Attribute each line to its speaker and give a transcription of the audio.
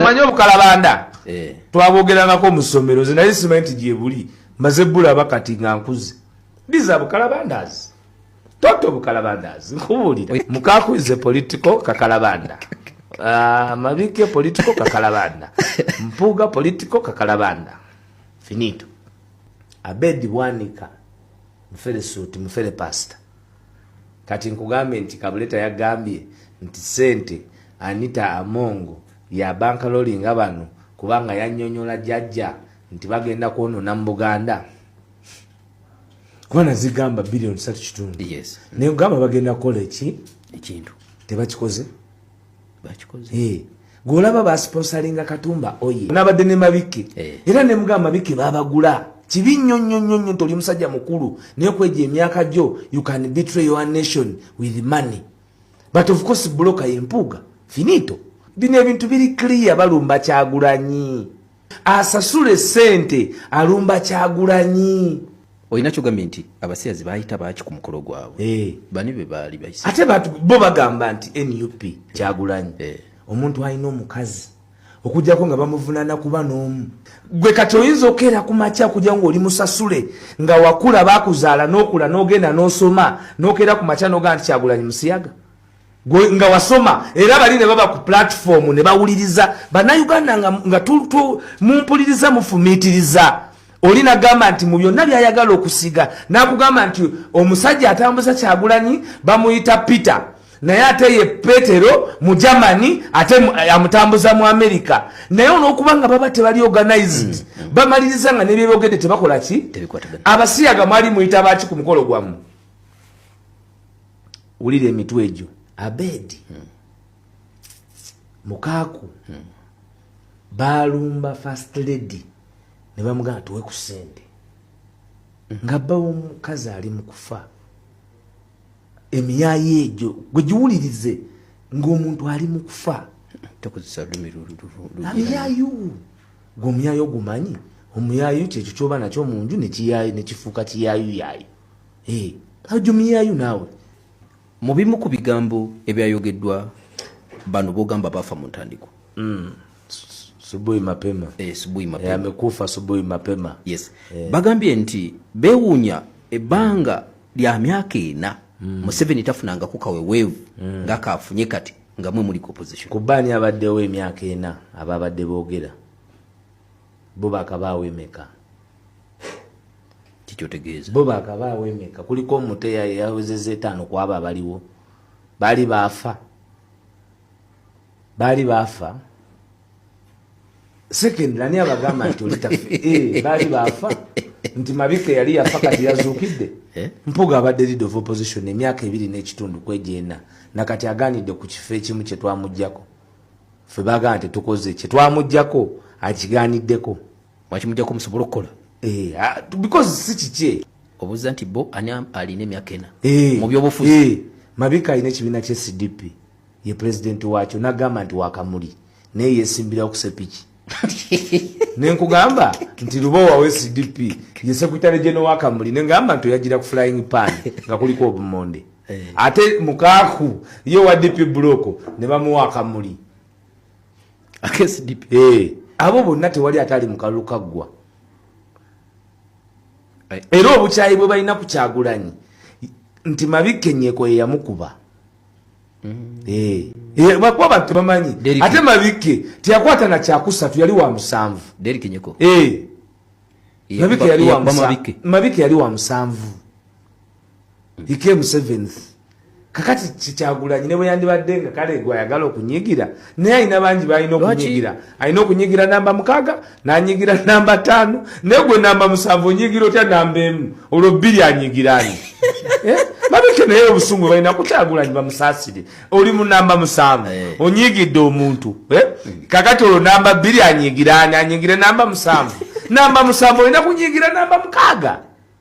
Speaker 1: manyi obukalabanda eh. twabogerangako mu ssomero ze naye simanyi nti gyebuli maze bulaba kati nga nkuze ndiza bukalabandazi toto bukalabandazi nkubuulira mukaku is a political kakalabanda uh, ah, mabike political kakalabanda mpuga political kakalabanda finito abedi bwanika mufere suti mufere pasta kati nkugambe nti kabuleta yagambye nti sente anita amongo ya banka lolinga bano kubanga yanyonyola jajja nti bagenda kwonona mu buganda kubana zigamba billion satu kitundu yes. naye ogamba
Speaker 2: bagenda
Speaker 1: kukola eki ekintu
Speaker 2: tebakikoze
Speaker 1: eh, gwolaba basponsalinga katumba oye nabadde ne mabike eh. era ne mugamba mabike babagula kibi nnyo nnyo nnyo nnyo nti oli musajja mukulu naye kweja emyaka gyo you can betray your nation with money but of course bloka yempuuga finito bino ebintu biri clear balumba kyagulanyi asasule sente alumba kyagulanyi olina kyogambye
Speaker 2: nti abasiyazi bayita baki ku mukolo gwabwe hey. Eh. bani be baali bayisa ate bo bagamba
Speaker 1: nti nup kyagulanyi hey. Eh. omuntu alina omukazi okujjako nga bamuvunana kuba n'omu gwe kati oyinza okeera ku makya kujja ngaoli musasule nga wakula bakuzaala n'okula n'ogenda n'osoma n'okeera ku makya n'ogaa nti kyagulanyi musiyaga gwe nga wasoma era bali ne baba ku platform ne bawuliriza bannayuganda nga, nga mumpuliriza mufumiitiriza oli nagamba nti mu byonna byayagala okusiga nakugamba nti omusajja atambuza kyagulanyi bamuyita peter naye ate ye petero mu germany ate amutambuza mu america naye olwokuba nga baba tebali organized mm, mm. bamaliriza nga nebyebogedde tebakola ki abasiyaga mwali muyita baki ku mukolo gwamu wulira emitwe egyo abedi hmm. mukaaku hmm. baalumba first lady ne bamugamba tuwe ku sente hmm. nga bba womukazi ali mu kufa emiyaayo egyo gwe giwulirize ng'omuntu ali mu kufa
Speaker 2: amiyaayo
Speaker 1: gwe omuyaayo ogumanyi omuyaayo kyekyo kyoba nakyo mu nju nekifuuka kiyaayo yaayo Hey, ojumiyayo naawe mu bimu
Speaker 2: ku bigambo ebyayogeddwa bano bogamba baafa mu ntandikwa mm.
Speaker 1: subuhi mapema eh, subuhi mapema eh,
Speaker 2: amekufa subuhi
Speaker 1: mapema yes eh. bagambye
Speaker 2: nti bewunya ebanga lya myaka ena mm. museveni tafunanga ku kawewevu mm. nga kafunye kati nga mwe muli opposition kubani abaddewo
Speaker 1: emyaka ena ababadde bogera bo bakabaawo emeka
Speaker 2: kikyotegeeza bo bakaba awemeka
Speaker 1: kuliko omuto yawezeza etaano kwabo abaliwo baali baafa baali baafa second ani abagamba nti olitafe eh, baali baafa nti mabike yali yafa kati yazuukidde eh? mpuga abadde lead of opposition emyaka ebiri n'ekitundu kwegyena nakati aganidde ku kifo ekimu kyetwamugjako fe bagamba tetukoze kyetwamugjako akiganiddeko Mwaki mujja ko
Speaker 2: musobola okukola. Eh, ah, because
Speaker 1: si kikye. Obuza nti bo
Speaker 2: ani alina emyaka ena. Eh, mu byobufuzi. Eh, mabika alina ekibiina
Speaker 1: kye CDP. Ye president wacho nagamba nti wakamuli. Naye yesimbira okusepiki. nenkugamba nti luba wawe cdp ye sekutale geno wakamuli nengamba nti oyagira ku flying pan nga kuliko obumonde eh. ate mukaku ye wa dp buloko ne bamuwa akamuli akesdip
Speaker 2: eh. abo bonna
Speaker 1: tewali ataali mukalulu kaggwa eh. era obukyayi bwe balina ku kyagulanyi nti mabikkenyeko yeyamukuba mm. eh. bakuba bantu tebamanyi ate mabikke teyakwata na kyakusatu yali wa musanvu mabike yali wa musanvu he came seventh kakati kikyagulanyi ne bweyandibadde nga kale gwe ayagala okunyigira naye alina bangi balina okunyigira alina okunyigira namba mukaaga nanyigira namba taano naye gwe namba musanvu onyigira otya namba emu olwo bbiri anyigirani eh? babike naye obusungu balina kukyagulanyi bamusaasire oli mu namba musanvu eh. onyigidde omuntu eh? kakati olwo namba bbiri anyigirani anyigire namba musanvu namba musanvu olina kunyigira namba mukaaga